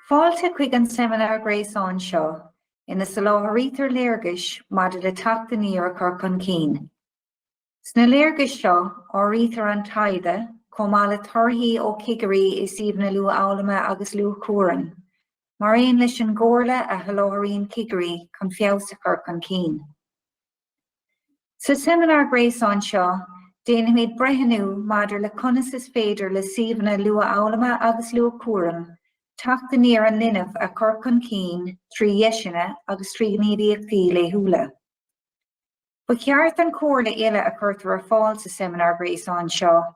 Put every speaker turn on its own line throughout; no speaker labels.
Fáilte chuig an seimineár gréasáin seo ina soláthraítear léargais maidir le Teacht Aniar a chur chun cinn. Sna léargais seo, áirítear an taighde, chomh maith le torthaí ó chigirí i suíomhanna luathfhoghlama agus luathchúraim, mar aon leis an gcomhairle a sholáthraíonn cigirí chun feabhas a chur chun cinn. Sa seimineár gréasáin seo, déanfaimid breithniú maidir le conas is féidir le suíomhanna luathfhoghlama agus luathchúraim teacht aniar an linbh a chur chun cinn trí dheiseanna agus trí ghníomhaíochtaí laethúla. Ba cheart an chomhairle uile a chuirtear ar fáil sa seimineár gréasáin seo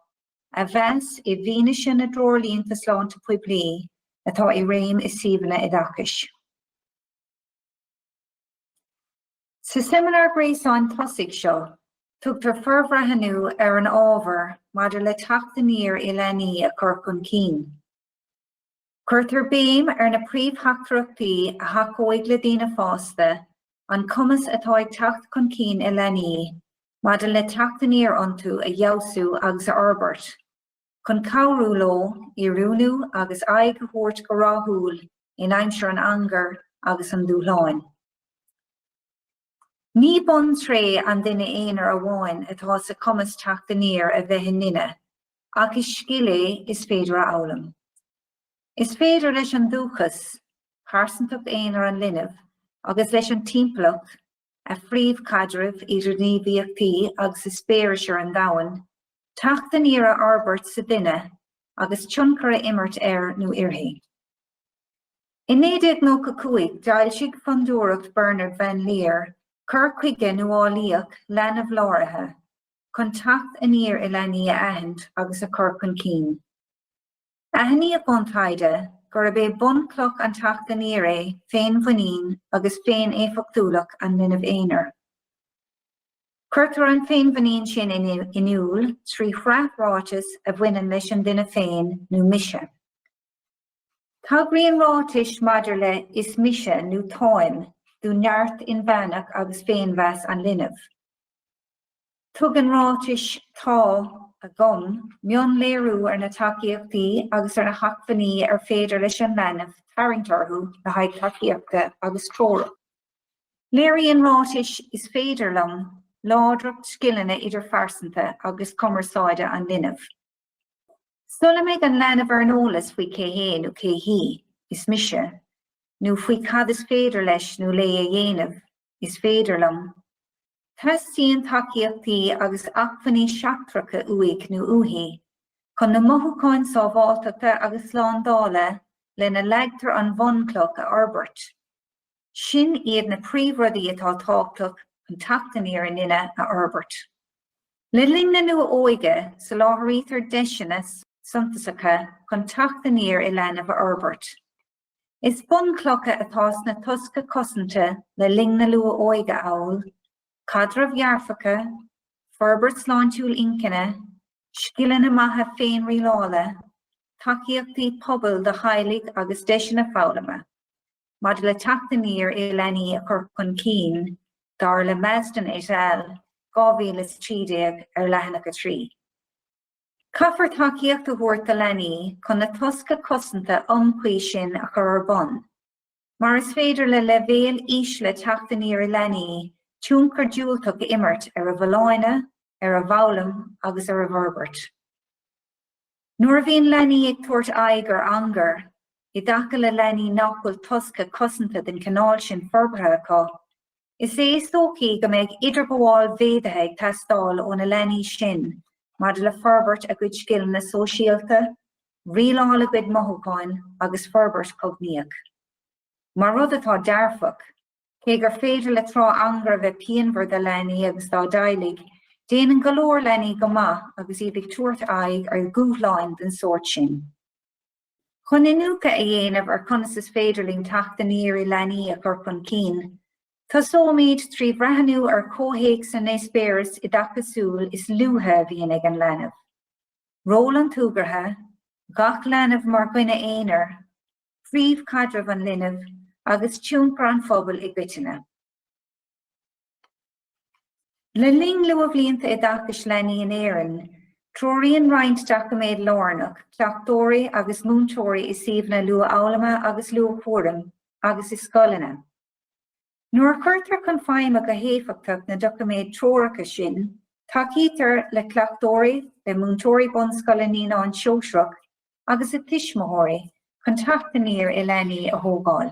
a mheas i bhfianaise na dtreoirlínte sláinte poiblí atá i réim i suíomhanna oideachais. Sa seimineár gréasáin tosaigh seo, tugtar forbhreathnú ar an ábhar maidir le teacht aniar i leanaí a chur chun cinn. Cuirtear béim ar na príomhtheachtaireachtaí a thacóidh le daoine fásta, an cumas atá ag teacht chun cinn i leanaí maidir le teacht aniar iontu a fheabhsú agus a fhorbairt, chun cabhrú leo oiriúnú agus aghaidh a thabhairt go rathúil in aimsir an angair agus an dúshláin. Ní buntréith an duine aonair amháin atá sa chumas teacht aniar a bheith i nduine, ach is scil é is féidir a fhoghlaim. Is féidir leis an dúchas, pearsantacht aonair an linbh, agus leis an timpeallacht, a phríomhchaidrimh, idirghníomhaíochtaí agus eispéiris ar an domhan, teacht aniar a fhorbairt sa duine agus tionchar a imirt air nó uirthi. I 1995 d'fhoilsigh Fondúireacht Bernard Van Leer cur chuige nuálaíoch leanbh-láraithe chun teacht aniar i leanaí a aithint agus a chur chun cinn. Aithníodh ón taighde gurb é bunchloch an teacht aniar é féinmhuinín agus féin-éifeachtúlacht an linbh aonair. Cuirtear an féinmhuinín sin in iúl trí shraith ráiteas a bhaineann leis an duine féin nó 'mise'. Tagraíonn ráitis maidir le 'Is mise' nó 'Táim' do neart inmheánach agus féinmheas an linbh. Tugann ráitis 'Tá', 'Agam' mionléiriú ar na tacaíochtaí agus ar na hacmhainní ar féidir leis an leanbh tarraingt orthu le haghaidh tacaíochta agus treorach. Léiríonn ráitis 'Is féidir liom' láidreacht scileanna idirphearsanta agus cumarsáide an linbh. Sula mbeidh an leanbh ar an eolas faoi cé hé nó cé hí, is mise, nó faoi cad is féidir leis nó léi a dhéanamh, is féidir liom. Teastaíonn tacaíochtaí agus acmhainní seachtracha uaidh nó uaithi, chun na mothúcháin sábháilteachta agus slándála lena leagtar an bhunchloch a fhorbairt. Sin iad na príomhrudaí atá tábhachtach chun teacht aniar i nduine a fhorbairt. Le linn na Luath-Óige, soláthraítear deiseanna suntasacha chun teacht aniar i leanbh a fhorbairt. Is bunchlocha atá sna tosca cosanta le linn na Luath-Óige amhail, caidrimh dhearfacha, forbairt sláintiúil inchinne, scileanna maithe féinrialála, tacaíochtaí pobail do theaghlaigh agus deiseanna foghlama. maidir le teacht aniar i leanaí a chur chun cinn, dar le Masten et al. 2013 ar leathanach 3. Caithfear tacaíocht a thabhairt do leanaí chun na tosca cosanta iomchuí sin a chur ar bun, mar is féidir le leibhéil ísle teacht aniar i leanaí tionchar diúltach a imirt ar a bhfolláine, ar a bhfoghlaim agus ar a bhforbairt. Nuair a bhíonn leanaí ag tabhairt aghaidh ar angar, i dtaca le leanaí nach bhfuil tosca cosanta den chineál sin forbartha acu, is é is dóichí go mbeidh idirghabháil mhéadaithe ag teastáil ó na leanaí sin maidir le forbairt a gcuid scileanna sóisialta, rialáil a gcuid mothúcháin agus forbairt chognaíoch. Mar rud atá dearfach. Cé gur féidir le tráth angair a bheith pianmhar do leanaí agus dá dteaghlaigh, déanann go leor leanaí go maith agus iad ag tabhairt aghaidh ar dhúshláin den sórt sin. Chun iniúchadh a dhéanamh ar conas is féidir linn teacht aniar i leanaí a chur chun cinn, tosóimid trí bhreathnú ar chomhthéacs na n-eispéireas oideachasúil is luaithe a bhíonn ag an leanbh, ról an tsúgartha, gach leanbh mar dhuine aonair, príomhchaidreamh an linbh agus tionchar an phobail i gcoitinne. Le linn luathbhlianta oideachais leanaí in Éirinn, treoraíonn roinnt doiciméad lárnach cleachtóirí agus múinteoirí i suíomhanna luathfhoghlama agus luathchúraim agus i scoileanna. Nuair a chuirtear chun feidhme go héifeachtach na doiciméid treoracha sin, tacaítear le cleachtóirí, le múinteoirí bunscoile naíonáin shóisearacha agus le tuismitheoirí chun teacht aniar i leanaí a thógáil.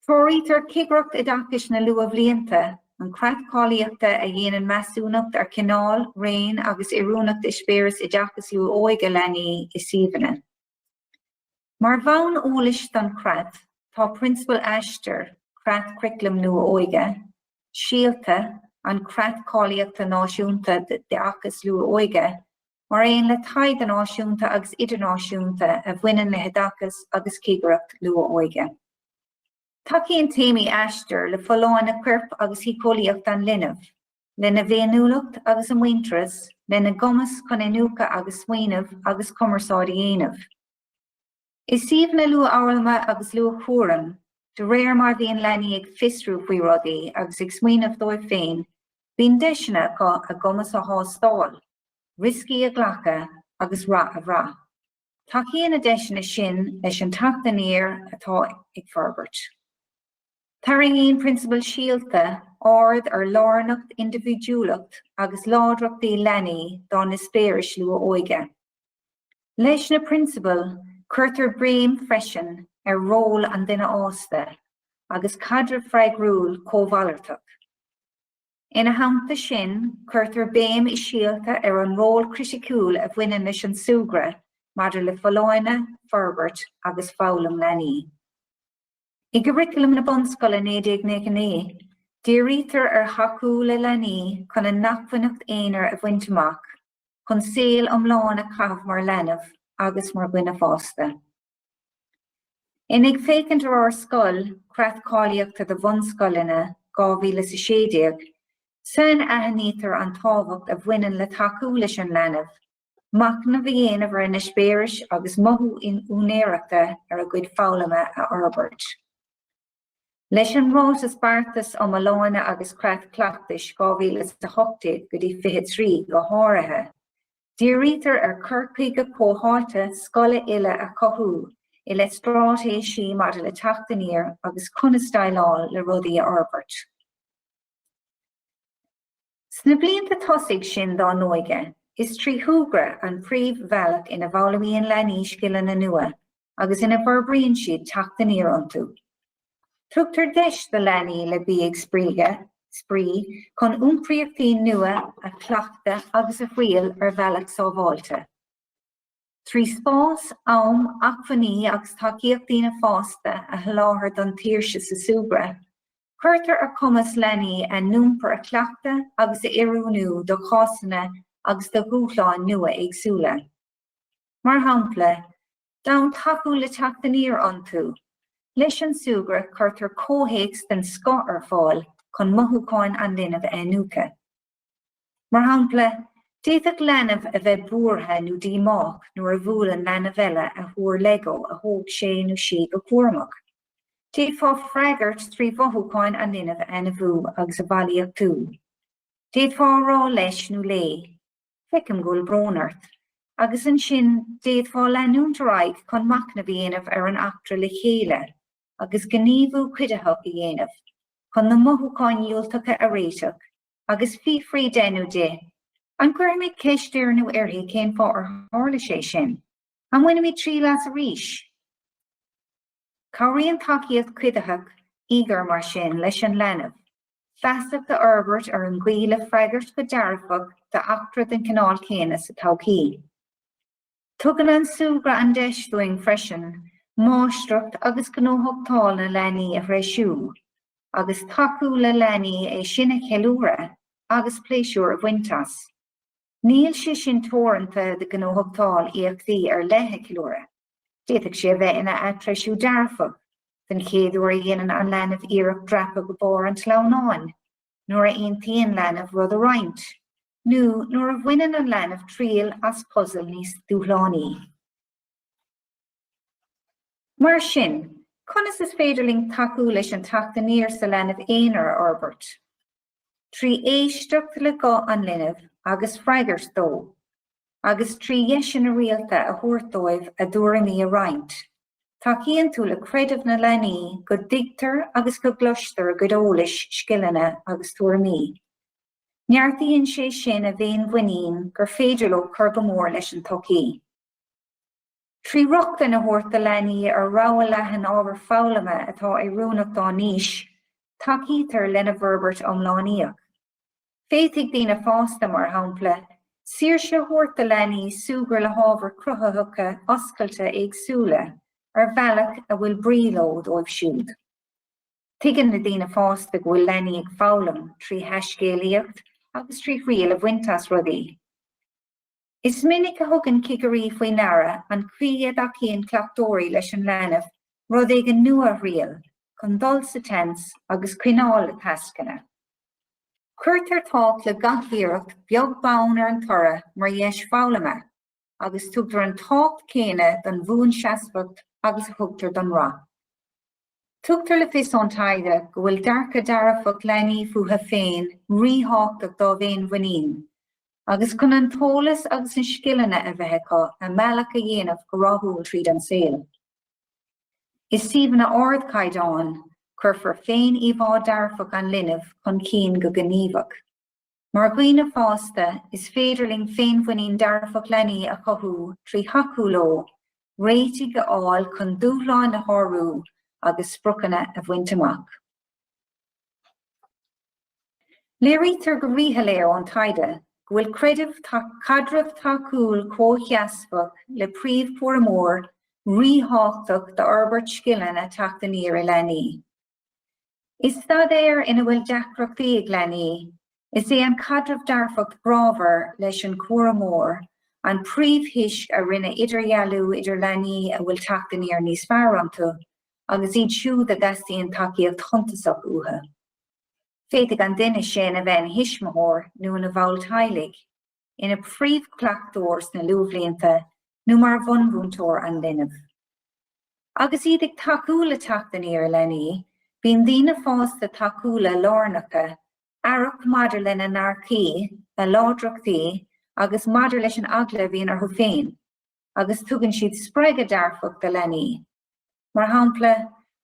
Treoraítear Cigireacht Oideachais na Luathbhlianta, an creat cáilíochta a dhéanann measúnacht ar chineál, raon agus oiriúnacht eispéireas oideachas luath-óige leanaí i suíomhanna. Mar bhonn eolais don chreat, tá prionsabail Aistear, Creat Churaclaim Luath-Óige, Síolta, an creat cáilíochta náisiúnta d'oideachas luath-óige, mar aon le taighde náisiúnta agus idirnáisiúnta a bhaineann le hoideachas agus cigireacht luath-óige. Tacaíonn téamaí Aistear le folláine coirp agus shíceolaíoch an linbh, lena bhféiniúlacht agus a muintearas, lena gcumas chun iniúchadh agus smaoineamh agus cumarsáid a dhéanamh. I suíomhanna luathfhoghlama agus luathchúraim, de réir mar a bhíonn leanaí ag fiosrú faoi rudaí agus ag smaoineamh dóibh féin, bíonn deiseanna acu a gcumas a thástáil, rioscaí a ghlacadh agus rath a bhrath. Tacaíonn na deiseanna sin leis an teacht aniar atá ag forbairt. Tarraingíonn prionsabail Síolta aird ar lárnacht, indibhidiúlacht agus láidreachtaí leanaí dá n-eispéiris luath-óige. Leis na prionsabail, cuirtear béim freisin ar ról an duine fhásta agus caidreamh freagrúil cómhalartach. Ina theannta sin, cuirtear béim i Síolta ar an ról criticiúil a bhaineann leis an súgradh maidir le folláine, forbairt agus foghlaim leanaí. I gCuraclam na Bunscoile 1999, dírítear ar thacú le leanaí chun a n-acmhainneacht aonair a bhaint amach chun saol iomlán a chaitheamh mar leanbh agus mar dhuine fásta. In Ag Féachaint ar Ár Scoil, Creat Cáilíochta do Bhunscoileanna, 2016, sainaithnítear an tábhacht a bhaineann le tacú leis an leanbh, machnamh a dhéanamh ar a n-eispéiris agus mothú úinéireachta ar a gcuid foghlama a fhorbairt. Leis an Ráiteas Beartais um Fholláine agus Creat Cleachtais 2018 go dtí 23 go háirithe, dírítear ar chur chuige comhtháite scoile uile a chothú i leith straitéisí maidir le teacht aniar agus conas déileáil le rudaí a fhorbairt. Sna blianta tosaigh sin dá n-óige, is trí shúgradh an príomhbhealach ina bhfoghlaimíonn leanaí scileanna nua agus ina bhforbraíonn siad teacht aniar iontu. Tugtar deis do leanaí le bheith ag spraoi chun iompraíochtaí nua a chleachtadh agus a thriail ar bhealach sábháilte. trí spás, am, acmhainní agus tacaíocht daoine fásta a sholáthar don tsaoirse sa súgradh. Cuirtear ar chumas leanaí a n-iompar a chleachtadh agus a oiriúnú do chásanna agus do dhúshláin nua éagsúla. Mar shampla, d'fhonn tacú le teacht aniar iontu, leis an súgradh cuirtear comhthéacs den scoth ar fáil chun mothúcháin an linbh a iniúchadh. Mar shampla, d'fhéadfadh leanbh a bheith buartha nó díomách nuair a bhuaileann leanbh eile a thúr Lego a thóg sé nó sí go cúramach. D'fhéadfá freagairt trí mhothúcháin an linbh a ainmniú agus a bhailíochtú. D'fhéadfá a rá leis nó léi, Feicim go bhfuil brón ort. agus ansin d'fhéadfá leanúint ar aghaidh chun machnamh a dhéanamh ar an eachtra le chéile. agus gníomhú cuiditheach a dhéanamh chun na mothúcháin dhiúltacha a réiteach agus fiafraí de nó di, An gcuirfimid ceist air nó uirthi cén fáth ar tharla sé sin? An mbainfimid triail as arís? Cabhraíonn tacaíocht chuiditheach íogair mar sin leis an leanbh feasacht a fhorbairt ar an gcaoi le freagairt go dearfach d'eachtra den chineál céanna sa todhchaí. Tugann an súgradh an deis dúinn freisin máistreacht agus gnóthachtáil na leanaí a threisiú, agus tacú le leanaí é sin a cheiliúradh agus pléisiúr a bhaint as. Níl sé sin teoranta do ghnóthachtáil éachtaí ar leith a cheiliúradh, d'fhéadfadh sé a bheith ina atreisiú dearfach, den chéad uair a dhéanann an leanbh iarracht dreapadh go barr an tsleamhnáin, nuair a aontaíonn leanbh rud a roinnt, nó nuair a bhaineann an leanbh triail as puzal níos dúshlánaí. Mar sin, conas is féidir linn tacú leis an teacht aniar sa leanbh aonair a fhorbairt? Trí éisteacht le guth an linbh agus freagairt dó. agus trí dheiseanna rialta a thabhairt dóibh a dtuairimí a roinnt. Tacaíonn tú le creideamh na leanaí go dtuigtear agus go gcloistear a gcuid eolais, scileanna agus tuairimí. Neartaíonn sé sin a bhféinmhuinín gur féidir leo cur go mór leis an tsochaí. Trí rochtain a thabhairt do leanaí ar rogha leathan ábhar foghlama atá oiriúnach dá n-aois, tacaítear lena bhforbairt iomlánaíoch. Féadfaidh daoine fásta, mar shampla, saoirse a thabhairt do leanaí súgradh le hábhair chruthaitheacha oscailte éagsúla ar bhealach a bhfuil brí leo dóibh siúd. Tuigeann na daoine fásta go bhfuil leanaí ag foghlaim trí thaiscéalaíocht agus trí thriail a bhaint as rudaí. Is minic a thugann cigirí faoi deara an chaoi a dtacaíonn cleachtóirí leis an leanbh rud éigin nua a thriail chun dul sa tseans agus coinneáil le tascanna. Cuirtear tábhacht le gach iarracht beag beann ar an toradh mar dheis foghlama agus tugtar an tábhacht céanna don bhuanseasmhacht agus a thugtar don rath. Tugtar le fios ón taighde go bhfuil dearcadh dearfach leanaí fúthu féin ríthábhachtach dá bhféinmhuinín agus chun an t-eolas agus na scileanna a bheith acu a mbealach a dhéanamh go rathúil tríd an saol. I suíomhanna ardchaighdeáin, cuirfear féiníomhá dhearfach an linbh chun cinn go gníomhach. Mar dhaoine fásta, is féidir linn féinmhuinín dearfach leanaí a chothú trí thacú leo, réitigh a fháil chun dúshláin a shárú agus spriocanna a bhaint amach. Léirítear go ríshoiléir ón taighde go bhfuil creideamh caidreamh tacúil comhsheasmhach le príomhchúramóir ríthábhachtach d'fhorbairt scileanna teacht aniar i leanaí. I staidéir ina bhfuil deacrachtaí ag leanaí, is é an caidreamh dearfach grámhar leis an chúramóir an príomhthoisc a rinne idirdhealú idir leanaí a bhfuil teacht aniar níos fearr iontu agus iad siúd a dteastaíonn tacaíocht shuntasach uathu. Féadfaidh an duine sin a bheith ina thuismitheoir nó ina bhall teaghlaigh. ina phríomhchleachtóir sna luathbhlianta nó mar bhunmhúinteoir an linbh. Agus iad ag tacú le teacht aniar leanaí, bíonn daoine fásta tacúla lárnacha, aireach maidir lena ndearcthaí, a láidreachtaí agus maidir leis an eagla a bhíonn orthu féin. agus tugann siad spreagadh dearfach do leanaí. Mar shampla,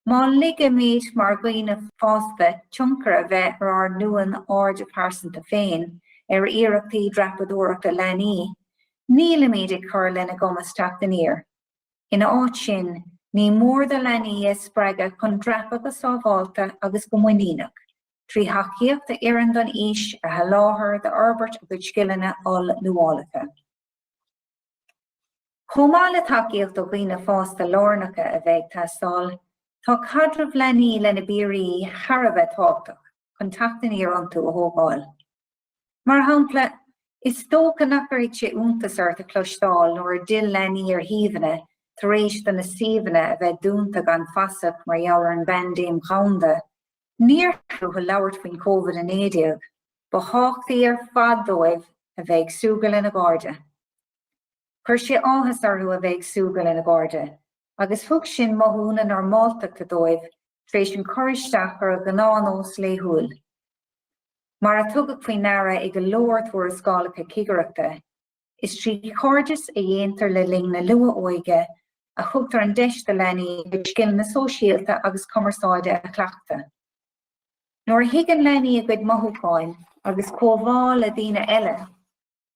má ligimid mar dhaoine fásta tionchar a bheith ar ár n-uamhan airde pearsanta féin ar iarrachtaí dreapadóireachta leanaí, nílimid ag cur lena gcumas teacht aniar. Ina áit sin, ní mór dúinn leanaí a spreagadh chun dreapadh go sábháilte agus go muiníneach, trí thacaíocht a oireann don aois a sholáthar d'fhorbairt a gcuid scileanna oll-luaileacha. Chomh maith le tacaíocht ó dhaoine fásta lárnacha a bheith ag teastáil, tá caidreamh leanaí lena bpiaraí thar a bheith tábhachtach chun teacht aniar iontu a thógáil. Mar shampla, is dócha nach gcuirfidh sé iontas ort a chloisteáil nuair a d'fhill leanaí ar shuíomhanna tar éis do na suíomhanna a bheith dúnta gan fasach mar gheall ar an bpaindéim dhomhanda, níor theastaigh uathu labhairt faoin Covid-19. Ba thábhachtaí ar fad dóibh a bheith ag súgradh lena gcairde. Chuir sé áthas orthu a bheith ag súgradh lena gcairde agus thug sin mothú na normáltachta dóibh tar éis an cur isteach ar a ngnáthnós laethúil. Mar a tugadh faoi ndeara i go leor tuarascálacha cigireachta, Is trí chairdeas a dhéantar le linn na luath-óige a thugtar an deis do leanaí a gcuid scileanna sóisialta agus cumarsáide a chleachtadh. Nuair a thuigeann leanaí a gcuid mothúcháin agus comhbhá le daoine eile,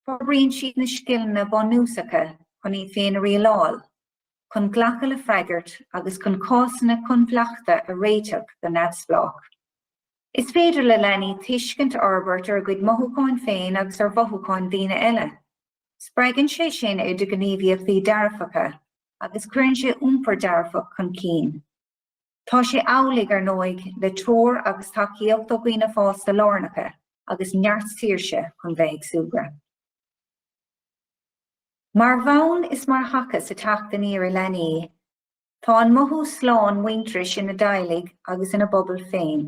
forbraíonn siad na scileanna bunúsacha chun iad féin a rialáil, chun glacadh le freagairt agus chun cásanna coinbhleachta a réiteach go neamhspleách. Is féidir le leanaí tuiscint a fhorbairt ar a gcuid mothúchán féin agus ar mhothúcháin daoine eile. Spreagann sé sin idirghníomhaíochtaí dearfacha agus cuireann sé iompar dearfach chun cinn. Tá sé amhlaidh, ar ndóigh, le treoir agus tacaíocht ó dhaoine fásta lárnacha agus neart saoirse chun bheith ag súgradh. Mar bhonn is mar thaca ag an teacht aniar i leanaí, Tá an mothú slán muintearais ina dteaghlaigh agus ina bpobal féin.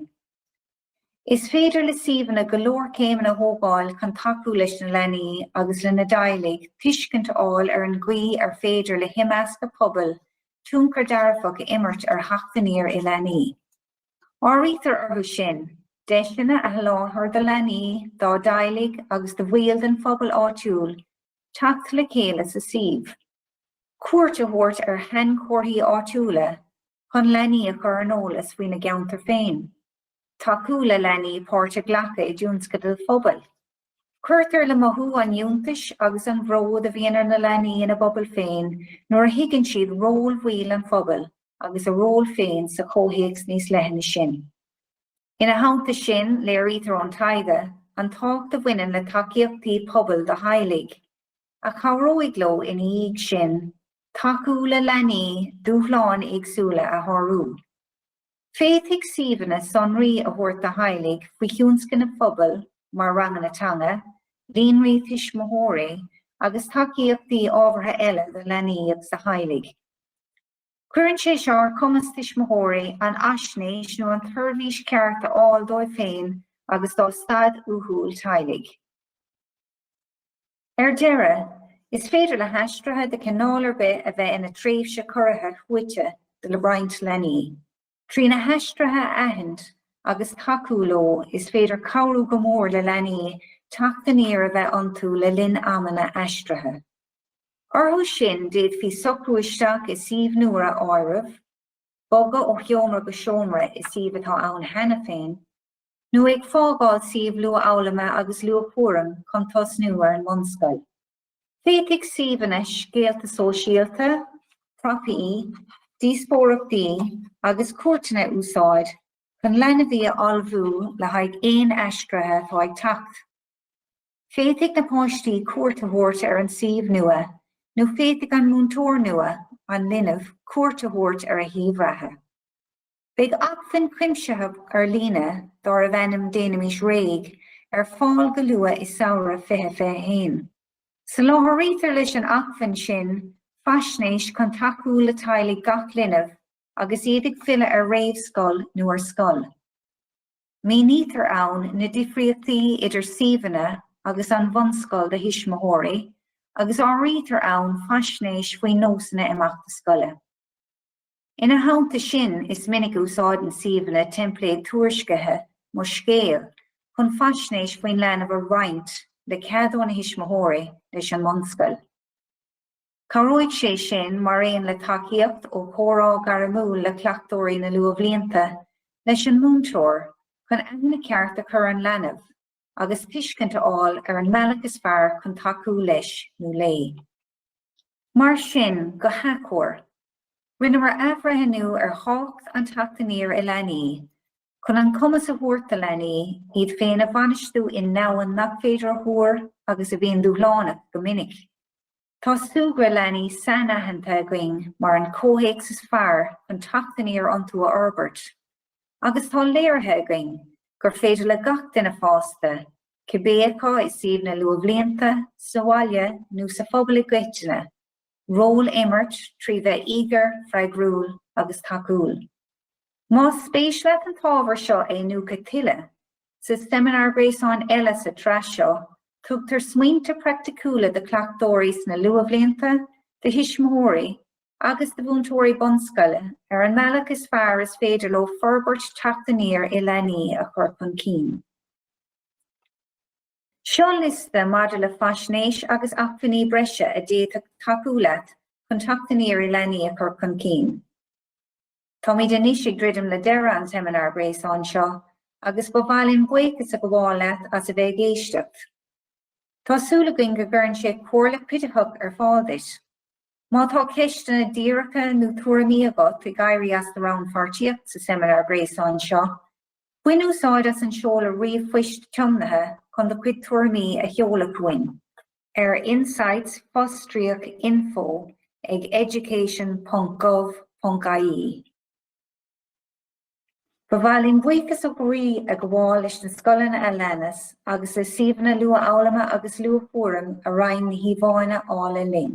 Is féidir le suíomhanna go leor céimeanna a thógáil chun tacú leis na leanaí agus lena dteaghlaigh tuiscint a fháil ar an gcaoi ar féidir le himeascadh pobail tionchar dearfach a imirt ar theacht aniar i leanaí. Áirítear orthu sin, deiseanna a sholáthar do leanaí, dá dteaghlaigh agus do bhaill den phobal áitiúil teacht le chéile sa suíomh, cuairt a thabhairt ar shainchomharthaí áitiúla chun leanaí a chur ar an eolas faoina gceantar féin, tacú le leanaí páirt a ghlacadh i dtionscadail phobail. Cuirtear le mothú an fhiúntais agus an bhróid a bhíonn ar na leanaí ina bpobal féin nuair a thuigeann siad ról bhaill an phobail agus a ról féin sa chomhthéacs níos leithne sin. Ina theannta sin, léirítear ón taighde an tábhacht a bhaineann le tacaíochtaí pobail do theaghlaigh, a chabhróidh leo ina dhiaidh sin tacú le leanaí dúshláin éagsúla a shárú. Féadfaidh suíomhanna sonraí a thabhairt do theaghlaigh faoi thionscnaimh phobail mar ranganna teanga, líonraí tuismitheoirí agus tacaíochtaí ábhartha eile do leanaí agus do theaghlaigh. Cuireann sé seo ar chumas tuismitheoirí an fhaisnéis nó an tseirbhís cheart a fháil dóibh féin agus dá staid uathúil teaghlaigh. Ar deireadh, is féidir le haistrithe de chineál ar bith a bheith ina tréimhse chorraithe shuaite do roinnt leanaí. Trí na haistrithe a aithint agus tacú leo, is féidir cabhrú go mór le leanaí teacht aniar a bheith iontu le linn amanna aistrithe. Orthu sin, d'fhéadfaí socrú isteach i suíomh nua a áireamh, bogadh ó sheomra go seomra i suíomh atá ann cheana féin, nó ag fágáil suíomh luathfhoghlama agus luathchúraim chun tosnú ar an mbunscoil. Féadfaidh suíomhanna scéalta sóisialta, prapaí, díospóireachtaí agus cuairteanna a úsáid chun leanbhaí a ullmhú le haghaidh aon aistrithe atá ag teacht. Féadfaidh na páistí cuairt a thabhairt ar an suíomh nua nó féadfaidh an múinteoir nua an linbh cuairt a thabhairt ar a shuíomh reatha. Beidh acmhainn chuimsitheach ar líne dárbh ainm Déanaimis Réidh ar fáil go luath i samhradh 2021. Soláthraítear leis an acmhainn sin faisnéis chun tacú le teaghlaigh gach linbh agus iad ag filleadh ar réamhscoil nó ar scoil. Mínítear ann na difríochtaí idir suíomhanna agus an bhunscoil do thuismitheoirí agus áirítear ann faisnéis faoi nósanna imeachta scoile. Ina theannta sin, is minic a úsáideann suíomhanna teimpléad tuairiscithe Mo Scéal chun faisnéis faoin leanbh a roinnt le cead óna thuismitheoirí leis an mbunscoil. Cabhróidh sé sin, mar aon le tacaíocht ó chomhrá gairmiúil le cleachtóirí na luathbhlianta, leis an múinteoir chun aithne cheart a chur an leanbh agus tuiscint a fháil ar an mbealach is fearr chun tacú leis nó léi. Mar sin, go hacomhair, rinneamar athbhreithniú ar thábhacht an Teacht Aniar i leanaí chun an cumas a thabhairt do leanaí iad féin a bhainistiú i ndomhan nach féidir a thuar agus a bhíonn dúshlánach go minic. Tá súgradh leanaí sainaitheanta againn mar an comhthéacs is fearr chun teacht aniar iontu a fhorbairt, agus tá léirithe againn gur féidir le gach duine fásta cibé acu i suíomh na luathbhlianta, sa bhaile nó sa phobal i gcoitinne, ról a imirt trí bheith íogair, freagrúil agus tacúil. Más spéis leat an t-ábhar seo a iniúchadh tuilleadh, sa seimineár gréasáin eile sa tsraith seo, tugtar smaointe praiticiúla do chleachtóirí sna luathbhlianta, do thuismitheoirí agus do mhúinteoirí bunscoile ar an mbealach is fearr is féidir leo forbairt teacht aniar i leanaí a chur chun cinn. Seo liosta maidir le faisnéis agus acmhainní breise a d'fhéadfadh tacú leat chun Teacht Aniar i Leanaí a chur chun cinn. Táimid anois ag druidim le deireadh an tseimineáir ghréasáin seo agus ba mhaith linn buíochas a ghabháil leat as a bheith ag éisteacht. Tá súil againn go gcuireann sé comhairle cuiditheach ar fáil duit. Má tá ceisteanna díreacha nó tuairimí agat ag éirí as do rannpháirtíocht sa seimineár gréasáin seo, Bain úsáid as an seoladh ríomhphoist tiomnaithe chun do chuid tuairimí a sheoladh chugainn ar insights-info ag education.gov.ie. Ba mhaith linn buíochas ó chroí a ghabháil leis na scoileanna a leanas agus le suíomhanna luathfhoghlama agus luathchúraim a roinn na híomhánna áille linn.